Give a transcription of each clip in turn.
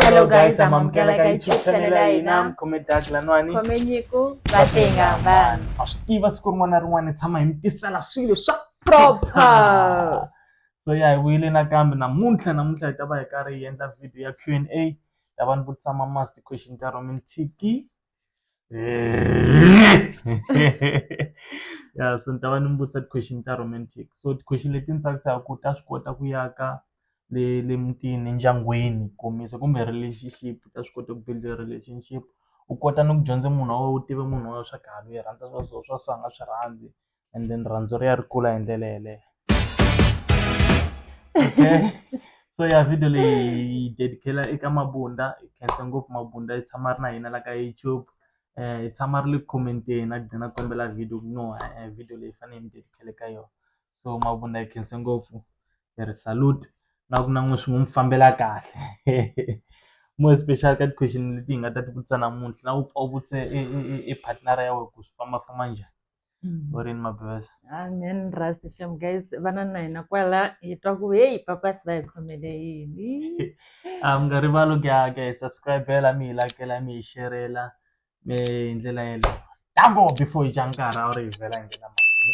Hello guys, I'm Amkela ka YouTube channel ya hina. Khome Doug Lanwani. Khome Nyiko Vatenga vanhu. Ma swi tiva siku rin'wana na rin'wana hi tshama hi mi tisela swilo swa proper. So ya hi vuyile nakambe namuntlha namuntlha hi ta va hi karhi hi endla video ya Q&A. Ta va ni vutisa ma must question ta Roman Tiki. ya so ni ta va ni mi vutisa ti-question ta romantic so ti-question leti ni tsakisaka ku ta swi kota ku ya ka le le mutini endyangwini kombisa kumbe relationship ta swi kota ku build relationship u kota ni ku dyondza munhu wa wena u tiva munhu wa wena swa ku ha loyi i rhandza swa so swa so a nga swi rhandzi and then rirhandzu ri ya ri kula hi ndlela yeleyo so ya video leyi hi dedicela eka mabunda hi khensa ngopfu mabunda yi tshama ri na hina la ka youtube um hi tshama ri le ku commenteni a gcina kombela video ku no e-e video leyi fanele hi mi dedicele ka yona so mabunda hi khense ngopfu hi ri salute na ku na n'wi swi n'wi mi fambela kahle more especially ka ti-question leti hi nga ta ti vutisa namuntlha na ku pfa u vutise e e e e partner-a ya wena ku swi fambafamba njhani. Mm. vurimi mabevesa amen rasi shem guys vana na hina kwala hi twa ku heyi papasi va hi khomele yini a mi nga rivali ku ya ku ya hi subscribela mi hi lakela mi hi xerela mi hi ndlela yeleyo tango before hi dya nkarhi a wu ri hi vhela hi nghena mahlweni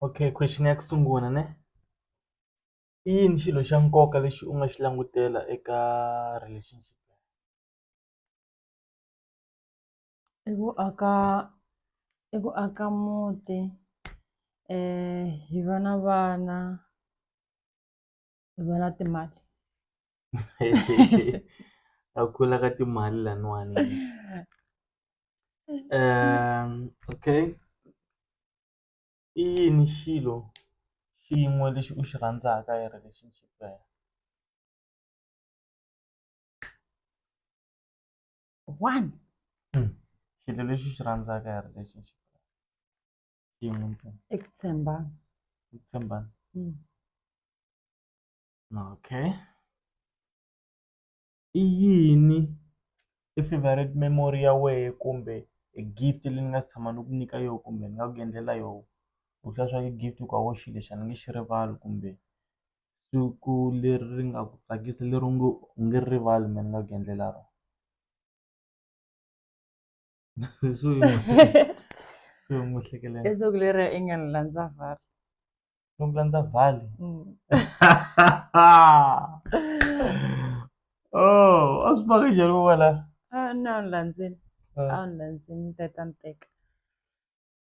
Okay question ya ku sungula ne i yini xilo xa nkoka lexi u nga xi langutela eka relationship i ku aka i ku aka muti hi va na vana hi va na timali a ku kula ka timali laniwani okay. i yini xilo xin'we lexi u xi rhandzaka hi relationship ya yena one xilo lexi u xi rhandzaka hi relationship xin'we ntsena i ku tshembana ku tshembana okay. i yini i favourite memory ya wehe kumbe e gift leyi ni nga si tshama ni ku nyika yona kumbe ni nga ku endlela yona u tlula swa ku i gift u ku a wu xi lexi a ni nge xi rivali kumbe siku leri ri nga ku tsakisa leri u ngo u nge ri rivali mina ni nga ku endlela rona. swi n'wi swi n'wi hlekelela leswaku leri i nga ni landza vhari swi n'wi landza vhali oh a swi faka njhani ku va la a na ni landzini a ni landzini ni teka ni teka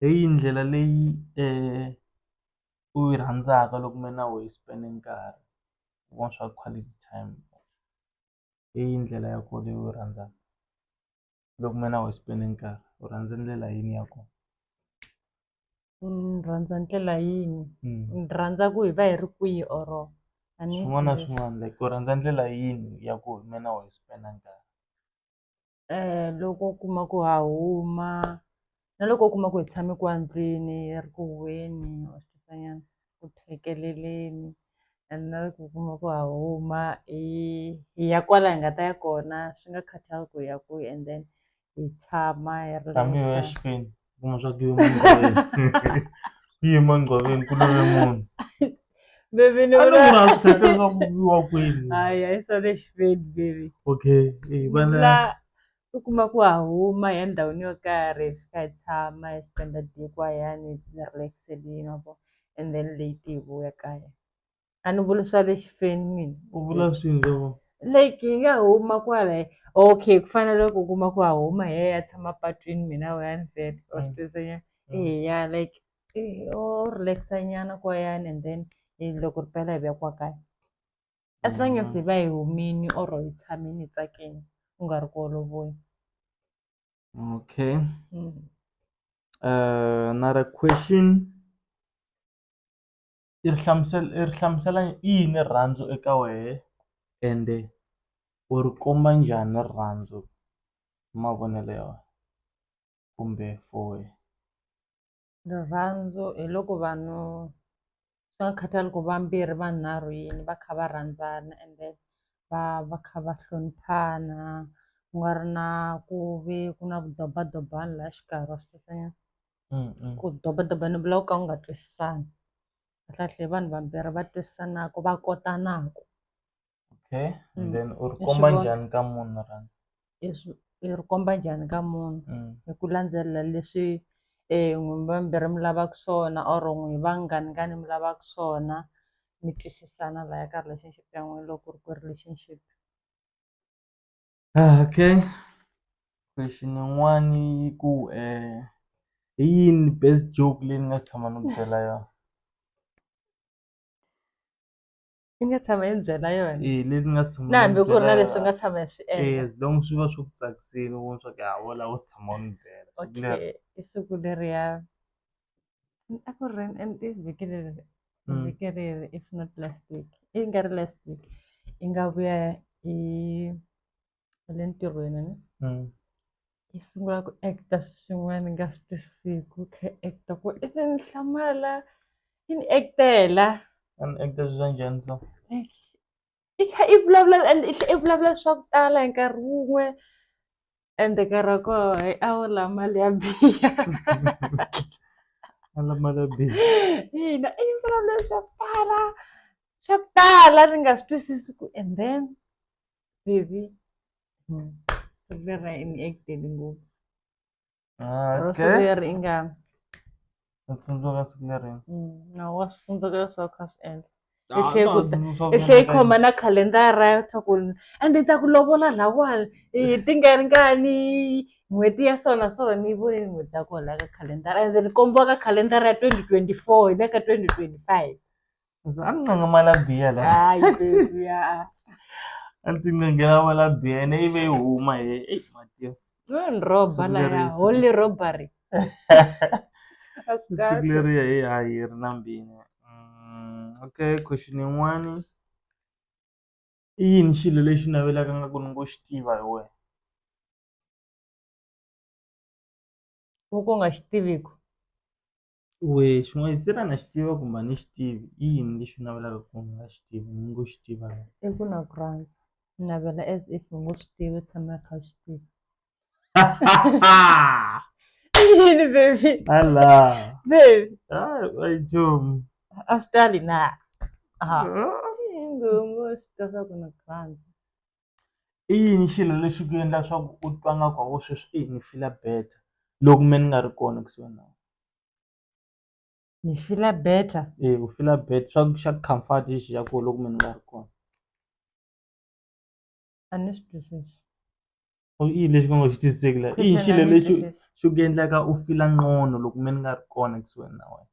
hi yihi ndlela leyi u yi rhandzaka loko mi ri na wena spend nkarhi wa swa quality time hi yihi ndlela ya kona leyi u yi rhandzaka loko mi ri na wena spend nkarhi u rhandza ndlela yini ya kona ni rhandza ndlela yini ni rhandza ku hi va hi ri kwihi or a ni swin'wana na swin'wana like u rhandza ndlela yini ya ku hi mina wa hi spend nkarhi. um loko u kuma ku ha huma na loko u kuma ku hi tshame ku endlwini hi ri ku huhweni or sweswinyana ku thekeleleni and na loko u kuma ku ha huma hi hi ya kwala hi nga ta ya kona swi nga khathali ku hi ya kwihi and then hi tshama hi ri . kuma swa ku yima ngqoveni ku yima ngqoveni ku love munhu Baby ni vula a swi khata leswaku viwa kwini hayi hayi swa le xiveni baby okay eh, vana u kuma ku ha huma ya ndhawini yo karhi hi fika hi tshama hi spenda diko hayani hi relax-elini ma vo and then late hi vuya kaya. a ni vuli swa le xifeni mina u vula swindzwa vo like yi nga huma kwala okay ku fana loko u kuma ku ha huma hi ya ya tshama patwini mina we a ni vele or Mm. sitwezenya Mm. eya like eh, o relaxa nyana kwayani and then eh, loko ri pela hi vuya kwa kaya as long as Mm. hi va hi humini or hi tshamini hi tsakeni u nga ri ku olovoni okay Mm. uh, another question i ri hlamusela i ri hlamusela i yini rirhandzu eka wehe ende u ri komba njhani rirhandzu hi mavonelo ya wena kumbe for wehe rirhandzu hi loko vanhu swi nga khathali ku vambirhi vanharhu yini va kha va rhandzana and then va va kha va hloniphana ku nga ri na ku ve ku na vudobadobani laha xikarhi wa swi twisisa nyana. ku dobadoba ni vula ku ka ku nga twisisani kahlekahle vanhu vambirhi va twisisanaku va kotanaku okay and then u ri komba njhani ka munhu rhandza i ri komba njhani ka munhu hi ku landzelela leswi n'wina vambirhi mi lavaka swona or n'wina vanghani ngani mi lavaka swona mi twisisana laya ka relationship ya n'wina loko ku ri ku i relationship. Okay question yin'wani yi ku hi yini best joke leyi ni nga si tshama ni ku byela yona i nga tshama hi byela yona leyi ni nga si tshama na hambi ku ri na leswi nga tshama hi swi endla as long swi va swi ku tsakisile u vona swa ku ha wo lava u si tshama u ni byela siku leri i siku leriya a ku ri and i vhiki leri Mm. vhiki leri if not last week i nga ri last week i nga vuya i i le ntirhweni ni Mm. i sungula ku acta swi swin'wana i nga swi tisiku i kha i acta ku i ni ni hlamala i ni actela A ni actor swilo swa njhani so? like i kha i vulavula and i tlhe i vulavula swa ku tala hi nkarhi wun'we ende nkarhi wa koho hi a wu la mali ya biha a la mali ya biha ina i vulavula swo tala swo tala ni nga swi twisisi ku and then baby hmm, leri i ni actele ngopfu ro siveri i nga Ku tsundzuka siku leri. nawu wa swi tsundzuka leswi a wu kha a swi endla Ah, Hi tlhela ku ta- tsundzuka i tlhela yi vununa khoma na khalendara ya swa ku ende yi ta ku lovola lawani hi tingaringani n'hweti ya so na so ni yi vonile n'hweti ya kona la ka khalendara ende ni kombiwa ka khalendara ya twenty twenty four hi le ka twenty twenty five amncengimala biya la hayi sesi ya a ti ngengela wala biya ne ive yi huma he eyi matiyo ni roba la ya holy robbery siku leriya hi ha yi ri na mbini mm, okay question yin'wani i yini xilo lexi navelaka nga ku ni ngo xi tiva hi wena u ku nga xi tiviku Wehe xin'wana hi tsela na xi tiva kumbe a ni xi tivi i yini lexi u navelaka ku u nga xi tivi ni ngo xi tiva i ku na ku rhandza ni navela as if u ngo swi tivi u tshama i kha u swi tiva yini baby ala baby a yi chomi a swi tali na ha ngo ngo swi tiva swa ku na ku rhandza I yini xilo lexi ku endla swa ku u twa nga ku hawu sweswi eyi ni fila better loko me ni nga ri kona kusuhi na we ni fila better eya ku fila better swa ku xa comfort xi ya kona loko me ni nga ri kona a ni swi twisisi i yini lexi va ngo xi twisiseki la i yi xilo lexi xi ku endlaka u fila nqono loko me ni nga ri kona kusuhani na wena.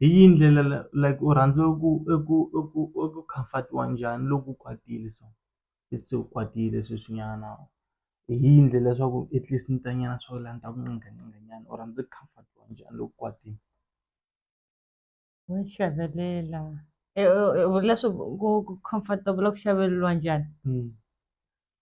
Hi yihi ndlela like u rhandza ku i ku i ku i ku comfort-iwa njhani loko u kwatile so let's say u kwatile sweswinyana hi yihi ndlela leswaku at least ni ta nyana swa ku la ni ta ku qingaqinga nyana u rhandza ku comfort-iwa njhani loko u kwatile wa hlavelela leswaku ku comfort-a vula ku hlaveleriwa njhani.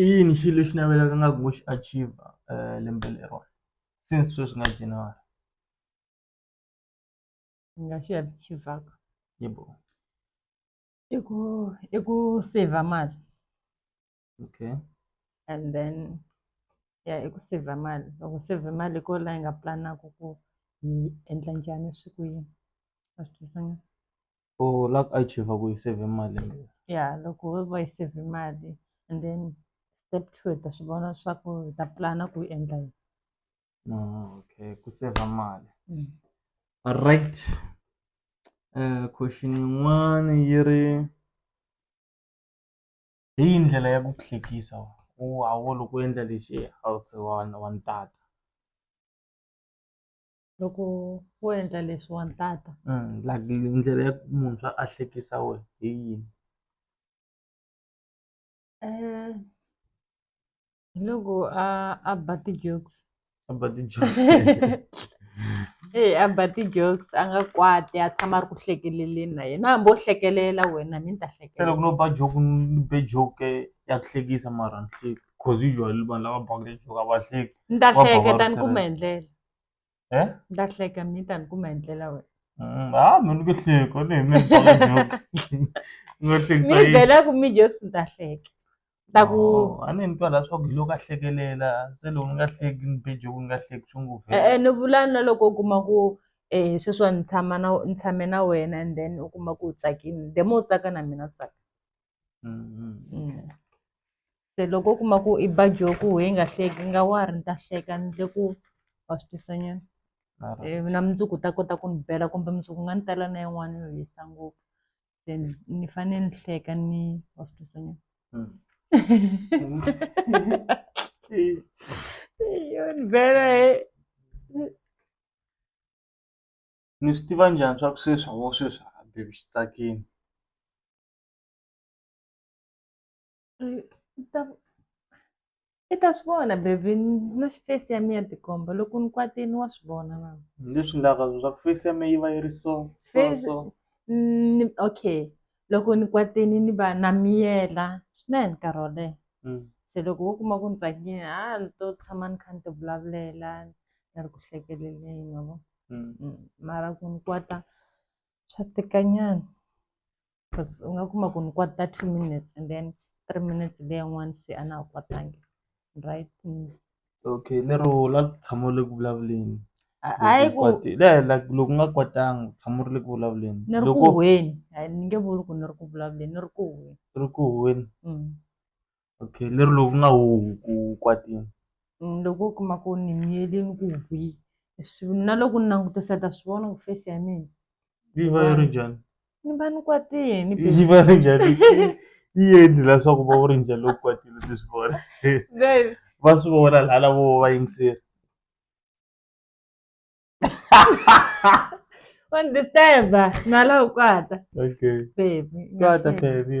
I yini xilo lexi navelaka nga ku ngo xi achiever lembe leriwani since sweswi nga January ni nga xi achivaka i ku i ku i ku saver mali okay and then ya i ku saver mali loko u save mali hi ko la hi nga pulanaku ku hi endla njhani swi ku yini wa swi twisisa na. or la ka iChief a ku yi save mali ya loko wo va yi save mali and then step two hi ta swi vona swa ku hi ta pulana ku yi endla yini ah, okay ku save mali mm. right uh, question yin'wana yi ri hi yi ndlela ya ku hlekisa u hawo loko u endla lexi a wu se wa wa ntata loko wo endla leswi wa ntata like ndlela ya muntshwa a hlekisa wena hi yini um hi loko a a ba ti-jokes a ba ti-jokes eyi a ba ti-jokes a nga kwati a tshama a ri ku hlekeleleni na yena hambi wo hlekelela wena ni ni ta se loko no ba joke ni be joke ya ku hlekisa mara ni hleki cause usually vanhu lava baka ti-joke a va hleki ni ta hleketa ni kuma hi ndlela e ni ta hleka mi ta ni kuma hi ndlela wena mm, a mi ni ku hleka ni mi baka joke ni nga hlekisa mi byela ku mi jokes ni ta hleka ta ku oh, a ni ni twa leswaku hi loko a hlekelela se loko ni nga hleki ni be joke ni nga hleki swi ngopfu e-e ni vula na loko u kuma ku um sweswiwa ni tshama na ni tshame na wena and then u kuma ku u tsakini the more u tsaka na mina tsaka se loko u kuma ku i baji yo ku hi nga hleki i nga wari ni ta hleka ni le ku wa swi twisa nyana na mundzuku ta kota ku ni bela kumbe mundzuku nga ni tala na yin'wana yo hisa ngopfu then ni fane ni hleka ni wa swi twisa nyana yo ni bela he ni swi tiva njhani swa ku sweswi a wo sweswi a baby xi tsakini Eh, ta i ta swi vona baby na face ya mina tikomba loko ni kwatini wa swi vona na leswi ndlaka swa ku face ya mina yi va yi ri so so Face- so ni okay loko ni kwatini ni va na miyela swinene nkarhi wo leha Mm. se loko wo kuma ku ni tsakile ha ni to tshama ni kha ni ti vulavulela ni ri ku hlekeleleni ma vo Mm. Mm, mara ku ni kwata swa tika nyana coz u nga kuma ku ni kwata two minutes and then three minutes leyi yin'wani se a na ha kwatangi right okay lero u la ku tshama u le ku vulavuleni hayi ku loko u nga kwatanga u tshama u ri le ku vulavuleni ni ri ku huhweni hayi ni nge vuli ku ni ri ku vulavuleni ni ri ku huhweni u ri ku huhweni. okay lero loko ku nga huhi ku kwatile Mm, loko u kuma ku ni miyelini ku hwi swi- na loko ni langutisa ta swi vona ku face ya mina yi va yi ri njhani ni va ni kwatile ni yi va yi ri njhani yi endli leswaku va ri njhani loko kwatile ti swi vona baby va swi vona laha lavo va yingiseri wa ni disturba na la u kwata okay baby kwata baby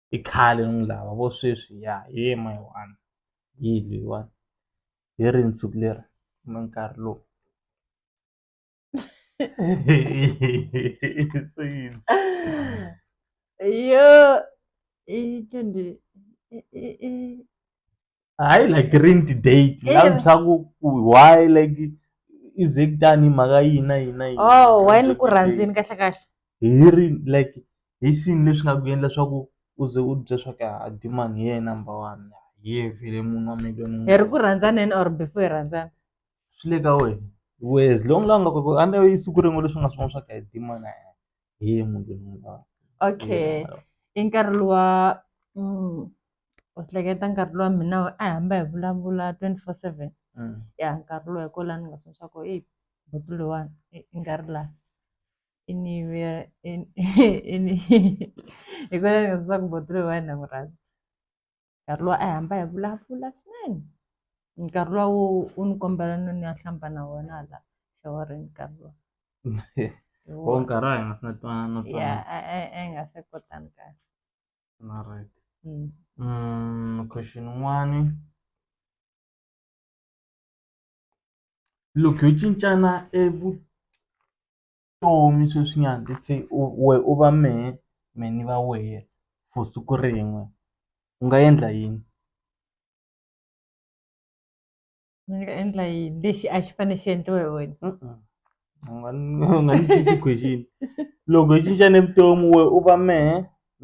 i khale ni lava vo sweswi ya he my one yi leyiwani hi ri nsuku leri kumbe nkarhi lowu se yini yo i twenty i i i. hayi like rini ti-date Eh. lavi swa ku ku why like i ze kutani mhaka yini na yini na yini oh why ni ku rhandzini kahle kahle hi ri like hi swini leswi nga ku endla swa ku u ze u bya swa ku a dimani hi yena number one hi ye vhele munhu wa miliyoni hi ri ku rhandzaneni or before hi rhandzana swi le ka wena we as long la nga ku a ne i siku rin'we leswi nga swin'wana swa ku a hi dimani a hi ye munhu loyi ni n'wi lavaka okay i nkarhi luwa u hleketa nkarhi luwa mina a hi hamba hi vulavula twenty four seven ya nkarhi luwa hi ko la ni nga tsundzuxa ko eyi buti loyiwani i nga ri la i ni i ni hi ko la ni nga tsundzuxa ku buti loyiwani na n'wi rhandza. nkarhi luwa a hi hamba hi vulavula swinene nkarhi luwa wo u ni kombela no ni ya hlamba na wena hala xawarini nkarhi luwa wo nkarhi a hi nga si na twana no ya a hi nga se kotani kahle na right mm. mm question n'wani loko yo cincana evu vutomi sweswinyana let's say u we u va mehe me ni va wehe for siku rin'we u nga endla yini ni nga endla yini lexi a xi fanele xi endliwa hi wena u nga ni u nga ni cinci question loko hi cincane vutomi we u va mehe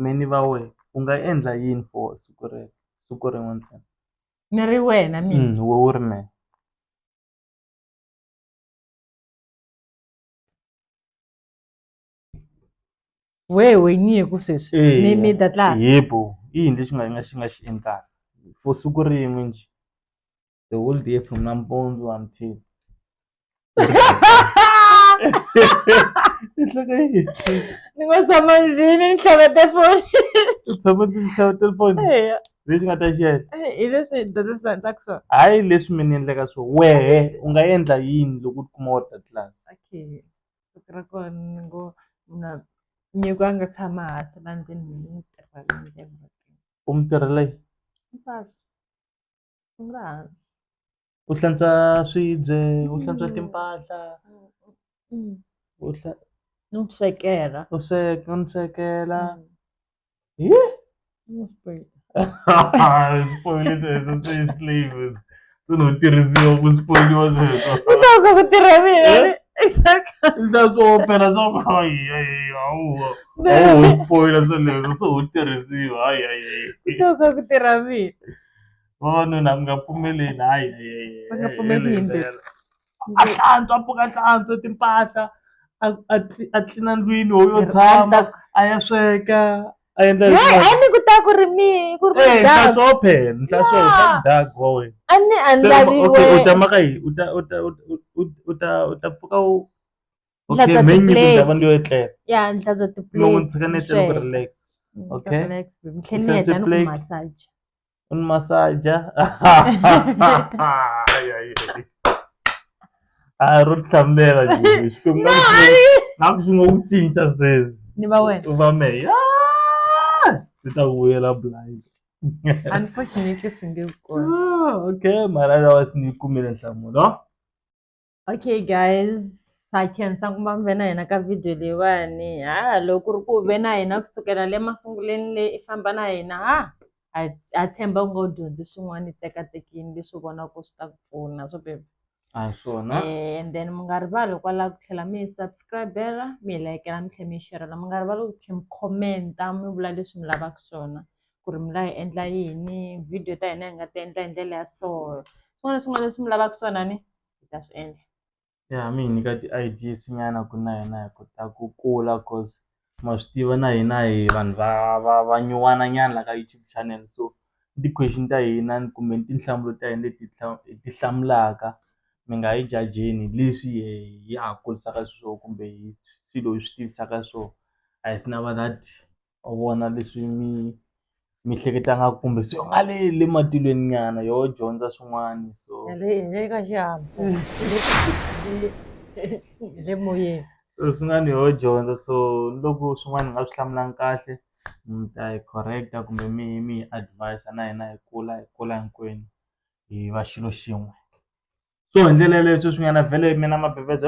me ni va wehe u nga endla yini for siku rero siku rin'we ntsena ni ri wena mina we u ri mehe. wehe wenyiye ku sweswi Eya. mi mi ta tlanga yebo i yini lexi nga nga xi nga xi endlaka for siku rin'we njhe the whole day from nampundzu until i hleka yini ni ngo tshama ndlwini ni tlhava tefoni u tshama ndzi xava telefoni eya leswi nga ta xiela eh, hi leswi dyondzisa ta ku swona hayi leswi mi ni endleka swo wehe u nga endla yini loko u tikuma u ri ka tlasi okay siku ra kona ni ngo na nyiko a nga tshama hansi la ndzeni mina ni tirha u mi tirhela yi mpasi u nga hansi u hlantswa swibye u hlantswa timpahla u no swekela u sweka no swekela spoil sweswo swi slaves swi no tirhisiwa ku spoiliwa sweswo ku tirha mina leswaku opela swa ku hayihayihawu awu spoila sweleswo se wu tirhisiwa hayihayi ku tirha mina vavanuna mi nga pfumeleli hayi va nga pfumeli hi yimbewu a hlantswa a pfuka a hlantswa timpahla a a a tlilina ndlwini ho yo tshama a ya sweka a endla a ni ku ta ku ri mi ku ri mi dya swo phela ndla swo ta dya wa wena a ni a ndla ri wena u ta maka yi u ta u ta u ta u ta pfuka u okay me nyi ku ta va ndi yo etlela ya ndla bya ti plate no n'wi tshika ni etlela ku relax okay ni tlhela ni heta ni ku massage Un massage ya. ay, ay, ay. Ah, ro tlhamela Jimmy. Xikwembu na ku- na ku swi ngo ku cinca sweswi. ni va wena U va me. Ah! Ndzi ta vuyela blind. unfortunately swi nge kona Ah, okay, mara lawa sinikumile nhlamulo. Okay guys, ha khensa ku va mi ve na hina ka video leyiwani ha loko ku ri ku ve na hina kusukela le masunguleni le i famba na hina ha ha ha tshemba u ngo dyondzi swin'wana i tekatekini leswi vona ku swi ta ku pfuna swo bebe a hi swona Eh, and then mi nga rivali hikwalaho ku tlhela mi hi subscribela mi hi layikela mi tlhela mi yi xerhela mi nga rivali ku tlhela mi khomenta mi vula leswi mi lavaka swona ku ri mi la hi endla yini video ta hina hi nga ti endla hi ndlela ya so swin'wana na swin'wana leswi mi lavaka swona ni hi ta swi endla. Ya a mi hi nyika ti-ideas nyana ku na hina hi kota ku kula coz ma swi tiva na hina hi vanhu va va va nyuwana nyana la ka YouTube channel so ni ti-question ta hina kumbe ni tinhlamulo ta hina leti hi ti hlamulaka mi nga hi jajeli leswi hi ya ha kurisaka xiswona kumbe hi swilo hi swi tivisaka swona a hi swi na va that. u vona leswi mi mi hleketa nga kumbe se u nga le le matilweni nyana yo dyondza swin'wana so le le ka xihahampfhuka le moyeni so swin'wana yo dyondza so loko swin'wana ni nga swi hlamulanga kahle mi ta yi correct-a kumbe mi mi hi advise na hina hi kula hi kula hinkwenu hi va xilo xin'we so hi ndlela yaleyo sweswi nyana vhele mina mabeveza .